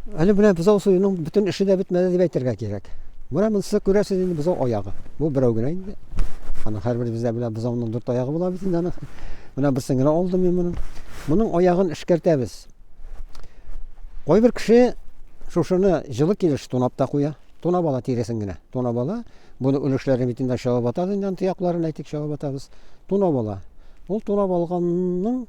Әле менә бозау суюның бөтен эше дә бетмәде дип әйтергә кирәк. Менә монысы күрәсез инде бозау аягы. Бу берәү генә инде. Аны һәрберебездә белә бозауның дүрт аягы була бит инде аны. Менә берсен генә алдым мин моның. Моның аягын эшкәртәбез. Кайбер кеше шушыны җылы килеш тунап та куя. Тунап ала тиресен генә. Тунап ала. Буны өлешләрен бит инде чабып атабыз инде аны тоякларын әйтик чабып атабыз. Тунап ала. Ул тунап алганның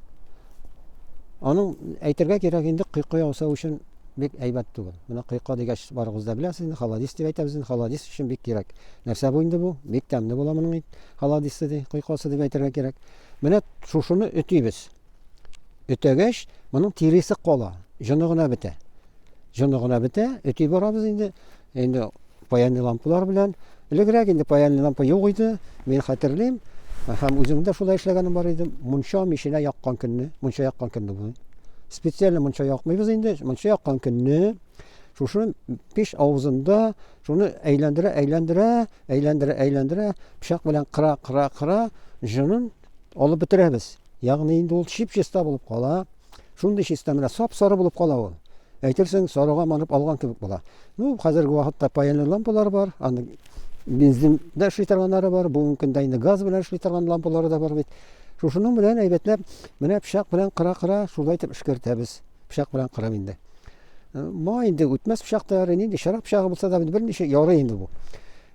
Аның әйтергә кирәк инде кыйко ясау өчен бик әйбәт түгел. Менә кыйко дигәч барыгыз да беләсез инде, холодис дип әйтәбез инде, холодис өчен бик кирәк. Нәрсә бу инде бу? Бик тәмле була моның ит, холодисы ди, кыйкосы дип әйтергә кирәк. Менә шушыны өтибез. Өтәгәч, моның тиресе кала, җоны гына бетә. Җоны гына бетә, өти барабыз инде. Инде паяльный лампалар белән, элегрәк инде паяльный лампа юк иде, мин хәтерлим, һәм үзем дә шулай эшләгәнем бар иде, мунча миченә яккан көнне, мунча яккан көнне бу. Специально мунча якмыйбыз инде, мунча яккан көнне шушы пич авызында шуны әйләндерә, әйләндерә, әйләндерә, әйләндерә, пычак белән кыра, кыра, кыра, җынын алып бетерәбез. Ягъни инде ул чип-чиста булып кала. Шундый чиста менә сап-сары булып кала ул. Әйтерсең, сарыга манып алган кебек була. Ну, хәзерге вакытта паяльный лампалар бар, аны бензин дә эшли торганнары бар, бүгенге көндә инде газ белән эшли торган лампалары да бар бит. Шушының белән әйбәтләп, менә пычак белән кыра-кыра шулай итеп эшкәртәбез. Пычак белән кырам инде. Ма инде үтмәс пычактары, нинди чарак пычагы булса да, берничә ярый инде бу.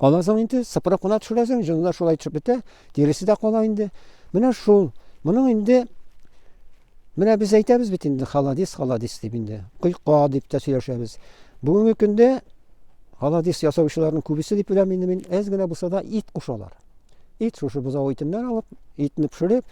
Аннан соң инде сыпырып кына төшерәсең, җыны да шулай төшеп бетә, тиресе дә кала инде. Менә шул. Моның инде менә без әйтәбез бит инде холодис, холодис дип инде. Койка дип тә сөйләшәбез. Бүгенге көндә холодис ясаучыларның күбесе дип беләм инде мин, әз генә булса да ит кушалар. Ит шушы бозау итеннән алып, итне пешереп,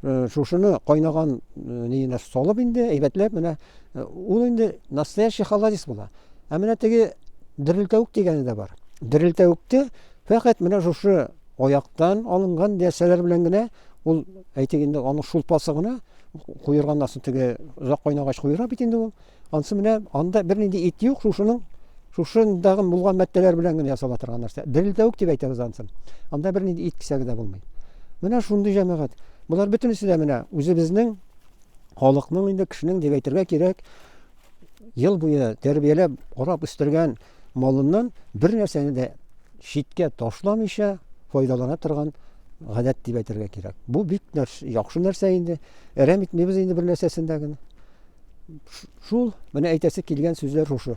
э, шушыны кайнаган э, ниенә салып инде, әйбәтләп менә э, ул инде настоящий холодец була. Ә менә теге дерелтәвек дигәне дә бар. Дерелтәвекте фәкать менә шушы аяктан алынган нәрсәләр белән генә ул әйтик инде аның шулпасы гына куерган астын теге озак кайнагач куера бит инде ул Ансы менә анда бернинди ит юк, шушының шушындагы булган мәттәләр белән генә ясала торган нәрсә. Дерел тәвек дип әйтәбез ансын. Анда бернинди ит кисәге дә булмый. Менә шундый җәмәгать. Болар бөтенесе дә менә үзебезнең халыкның инде кешенең дип әйтергә кирәк, ел буе тәрбияләп, карап үстергән малыннан бер нәрсәне дә читкә ташламыйча файдалана торган гадәт дип әйтергә кирәк. Бу бик нәрс, яхшы нәрсә инде. Әрәм итмибез инде бер нәрсәсен дә генә. Шул, менә әйтәсе килгән сүзләр шушы.